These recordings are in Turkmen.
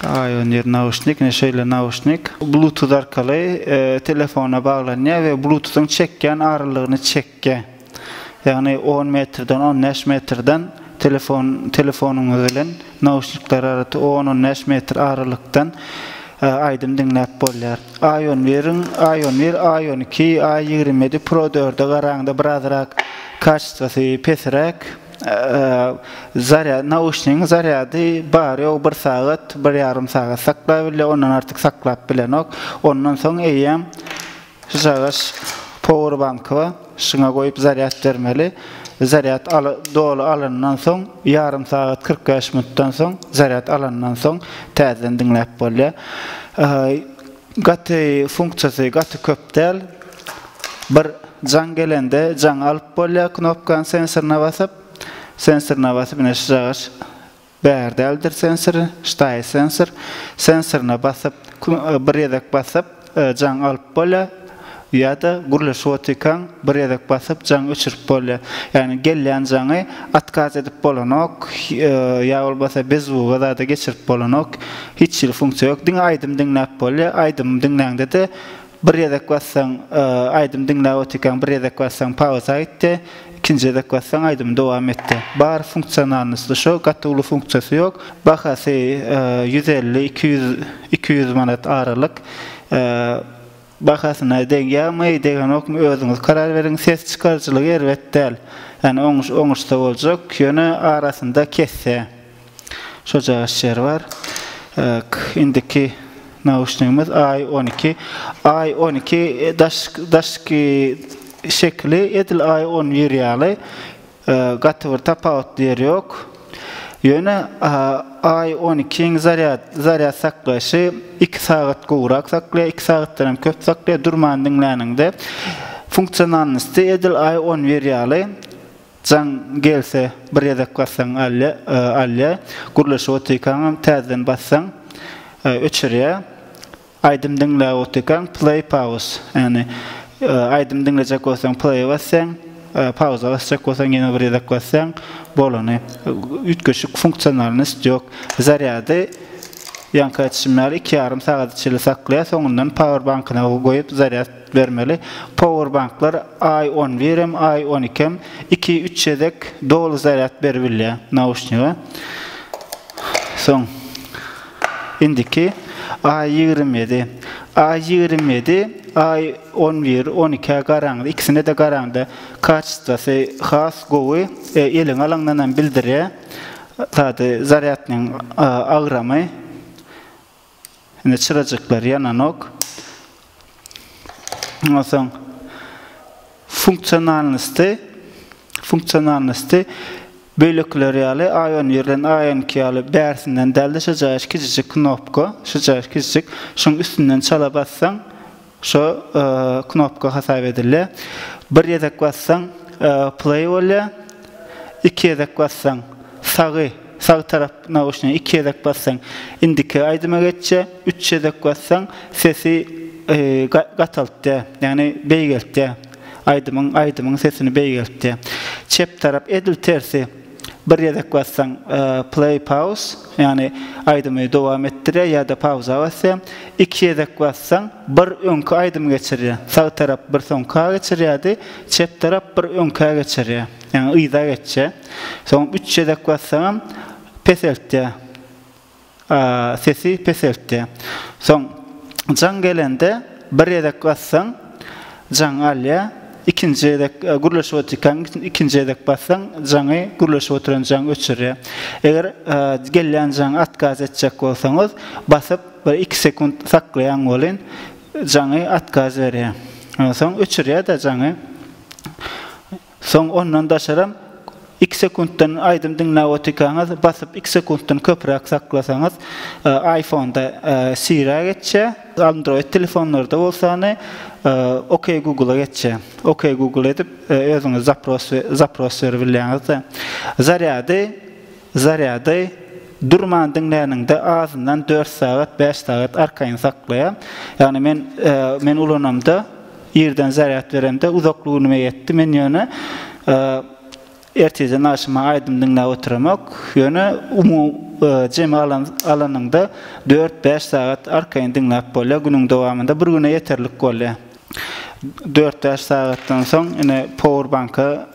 Aýoner nauşnik, ine şeýle nauşnik. Bluetooth arkaly telefona baglanýar we bluetooth-yň çekýän aralygyny çekýär. Ýagny on metrden, on bäş metrden telefon, telefonyňyz bilen nauşnikler arasy on, on bäş metr aralykdan aýdym diňläp bolýar. Aýonweriň, Aýonwer A on iki, A ýigrimi ýedi Pro dörde garaňda birazrak kaçestwasy pesräk. Zarýad nauşnigiň zarýady bar ýogy bir sagat, bir ýarym sagat saklabilýär, ondan artyk saklap bilenok. Ondan soň eýýäm şu çagaş powerbanky bar, şuňa goýup zarýad bermeli. Zarýad al doly alandan soň, ýarym sagat kyrk bäş minutdan soň zarýad alandan soň täzeden diňläp bolýar. Gaty funksiýasy gaty köp däl. Bir jaň gelende jaňy alyp bolýar knopkany sensoryna basyp. Sensoryna basyp ine şu jaga bäri däldir sensory, ştaýy sensor. Sensoryna basyp bir gezek basyp jaň alyp bolýar. Ýa-da gürleşip otyrkaň bir gezek basyp jaň öçürip bolýar. Ýagny gelýän jaňy otkaz edip bolanok, ýa bolmasa bezuwa zada geçirip bolanok. Hiç hili funksiýa ýok. Diňe aýdym diňläp bolýar. Aýdym diňläňde-de bir gezek bassaň, aýdym diňläp otyrkaň bir gezek bassaň pauza gitdi, ikinji gezek bassaň aýdym dowam etdi. Bar funksionalnosty şo, gaty uly funksiýasy ýok. Bahasy ýüz elli, iki ýüz, iki ýüz manat aralyk. Bahasyna degýärmi, degenokmy özüňiz karar beriň, ses çykaryjylygy erbet däl. Ýani oňuş oňuşsa boljak, ýöne arasynda kesse şojagaş ýer bar. K indiki nauşnigimiz Aý on iki. Aý on iki daş daşky şekili edil Aý on bir ýaly. Gaty bir tapawutly ýeri ýok. Ýöne I on ikiň zarýad zarýad saklaýşy iki sagat gowrak saklaýar, iki sagatdan hem köp saklaýar. Durman diňläniňde funksionalnosty edil I on bir ýaly jaň gelse bir gezek bassaň alýar, alýar. Gürleşip otyrkaňam täzeden bassaň öçürýär. Aýdym diňläp otyrkaň play pauz ýagny aýdym diňlejek bolsaň play basýaň pauza basjak bolsaň ýene bir gezek basýaň bolany üýtgeşik funksionalnost ýok zarýady ýaňky aýtşym ýaly iki ýarym sagada çenli saklaýar soňundan power bankyna goýup zarýad bermeli power banklar aý on bir hem aý on iki hem iki üç gezek doly zarýad beribilýär nauşniga soň. Indiki Aý ýigrimi ýedi. Aý ýigrimi ýedi, Aý on bir, on ikä garaňda, ikisine-de garaňda kaçestwasy has gowy, eliňe alaňdan hem bildirýä zady, zarýadnyň agramy. Indi çyrajyklar ýananok. Ondan soň funksionalnosty, funksionalnosty beýlekiler ýaly A-on birden A-on iki ýaly bärsinden dälde şo jaýyş kiçijik knopka, şo jaýyş kiçijik şoň üstünden çala bassaň şo knopka hasap edilýär. Bir ýedek bassaň play bolýar. Iki ýedek bassaň sagy. Sag tarap nauşniga iki gezek bassaň indiki aýdyma geçýär, üç gezek bassaň sesi gataltýar, ýagny beýgeltýär. Aýdymyň aýdymyň sesini beýgeltýär. Çep tarap edil tersi, bir gezek bassaň play pauz, ýagny aýdymy dowam etdirýär ýa-da pauza basýar. Iki gezek bassaň bir öňki aýdymy geçirýär. Sag tarap bir soňka geçirýärdi, çep tarap bir öňkä geçirýär. Ýagny yza geçýär. Soň üç gezek bassagam peseltýär. Sesi peseltýär. Soň jaň gelende bir gezek bassaň jaň alýar. Ikinji gezek gürleşip otyrkaň ikinji gezek bassaň jaňy gürleşip oturan jaň öçürýär. Eger gelýän jaňy otkaz etjek bolsaňyz basyp bir iki sekunt saklaýaň welin jaňy otkaz berýär. Onsoň öçürýär-de jaňy. Soň ondan daşaram iki sekuntdan aýdym diňläp otykaňyz basyp iki sekuntdan köpräk saklasaňyz aýfonda siri-a geçýä android telefonlarda bolsany ok google-a geçýä ok google edip özüňiz zapros zapros beribilýäňizde zarýady Zarýady durman diňläniňde azyndan dört sagat, bäş sagat arkaýyn saklaýar. Ýagny men men ulanamda irden zarýad beremde uzakly günüme ýetdi. Men ýöne ertirden agşama aýdym diňläp oturamok. Ýöne jemi alan alanyňda dört, bäş sagat arkaýyn diňläp bolýar günüň dowamynda. Bir güne ýeterlik bolýar. Dört, bäş sagatdan soň ine power banka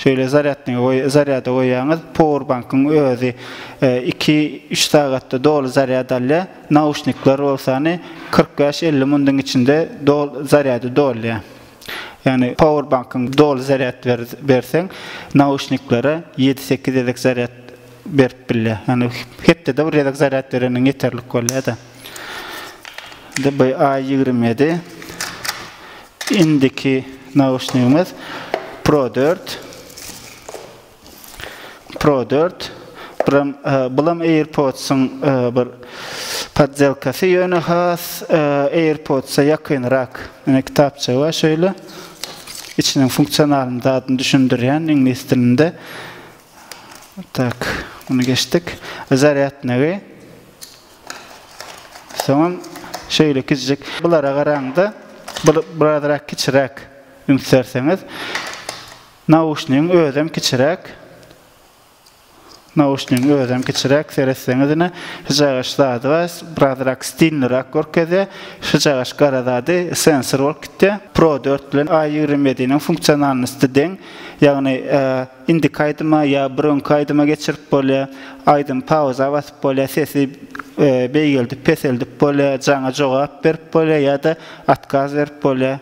Şeýle zarýadniga goý, zarýada goýýaňyz, powerbankyň özi iki, üç sagatda doly zarýad alýar, nauşnikler bolsany kyrk bäş, elli mundyň içinde dol zarýady dolýar. Ýagny powerbankyň doly zarýad berseň, nauşniklere ýedi, sekiz gezek zarýad berip bilýär. Ýagny hepdede bir gezek zarýad bereniň ýeterlik bolýar-da. DBA ýigrimi ýedi indiki nauşnigimiz Pro dört Pro dört bulam e, bulam AirPods-yň e, bir poddelkasy ýöne has e, AirPods-a ýakynrak. Ine kitapça bar şöyle. İçiniň funksionalini zadyny düşündirýän iňlis dilinde. Tak, bunu geçdik. Zaryadnygy Soňam şeýle kiçijik bulara garaňda bir birazrak kiçiräk üns berseňiz. Nauşnigiň özem kiçiräk. Nauşnigiň özem kiçiräk seretseňiz ine hyjagyş zady bar. Birazrak stilnirak görkezýär. Hyjagyş gara zady sensor bolup gitýär. Pro dört bilen A ýigrimi ýediniň funksionalnosty deň. Ýagny Indiki aýdyma ýa bir öňki aýdyma geçirip bolýa. Aýdym pauza basyp bolýa, sesi beýgeldip, peseldip bolýa, jaňa jogap berip bolýa ýa-da otkaz berip bolýa.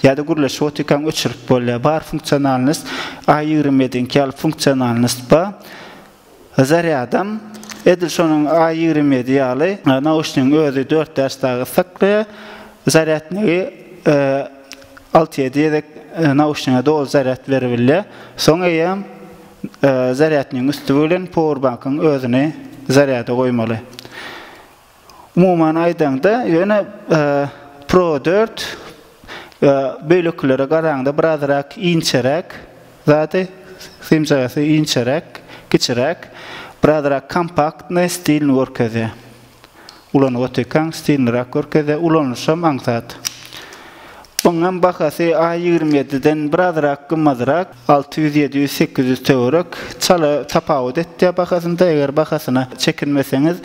Ýa-da gürleşip otyrkaň öçürip bolýa. Bar funksionalnost, A ýigrimi ýediňki ýaly funksionalnost bar. Zarýadam edil şonuň A ýigrimi ýedi ýaly, nauşnigiň özi dört däş dagy gyssaklyja, zarýadnigi alty-ýedi gezek nauşnige doly zarýad beribilýär. Soň eýýäm zarýadnigiň üsti bilen powerbankyň özüni zarýada goýmaly. Umuman aýdaňda, ýöne Pro dört beýlekilere garaňda birazrak inçeräk zady, symjagasy inçeräk, kiçiräk, birazrak kompaktny stilini görkezýär. Ulanyp otyrkaň stiliniräk görkezýär, ulanylyşam aňsat. Oňam bahasy A ýigrimi ýediden birazrak gymmadrak, alty ýüz, ýedi ýüz, sekiz ýüz töwerek. Çala tapawut etýär bahasynda. Eger bahasyna çekinmeseňiz,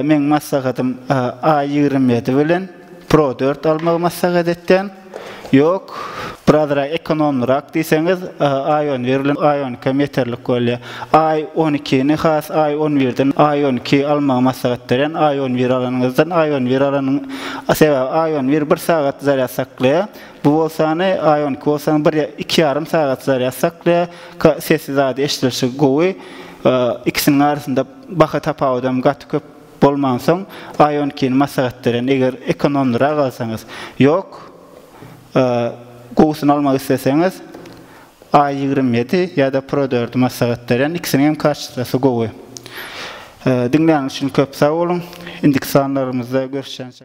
meň maslahatym A ýigrimi ýedi bilen Pro dört almagy maslahat etýän. Ýok, birazrak ekonomlyrak diýseňiz, Ion bir bilen Ioniq hem ýeterlik bolýar. Aý on ikini has aý on birden aý on iki almagy maslahat berýän aý on bir alanyňyzdan aý on bir alanyň sebäbi aý on bir bir sagat zarýad saklaýar bu bolsany aý on iki bolsaň bir iki ýarym sagat zarýad saklaýar ka sesi zady eşdilişi gowy ikisiniň arasynda baha tapawudam gaty köp bolmansoň aý on ikini maslahat berýän eger ekonomlyrak alsaňyz ýok gowusyny almak isleseňiz A ýigrimi ýedi ýada pro dördi maslahat berýän ikisiniň hem kaçestasy gowy. Diňläniňiz üçin köp sag boluň. Indiki sanlarymyzda görüşýänçä.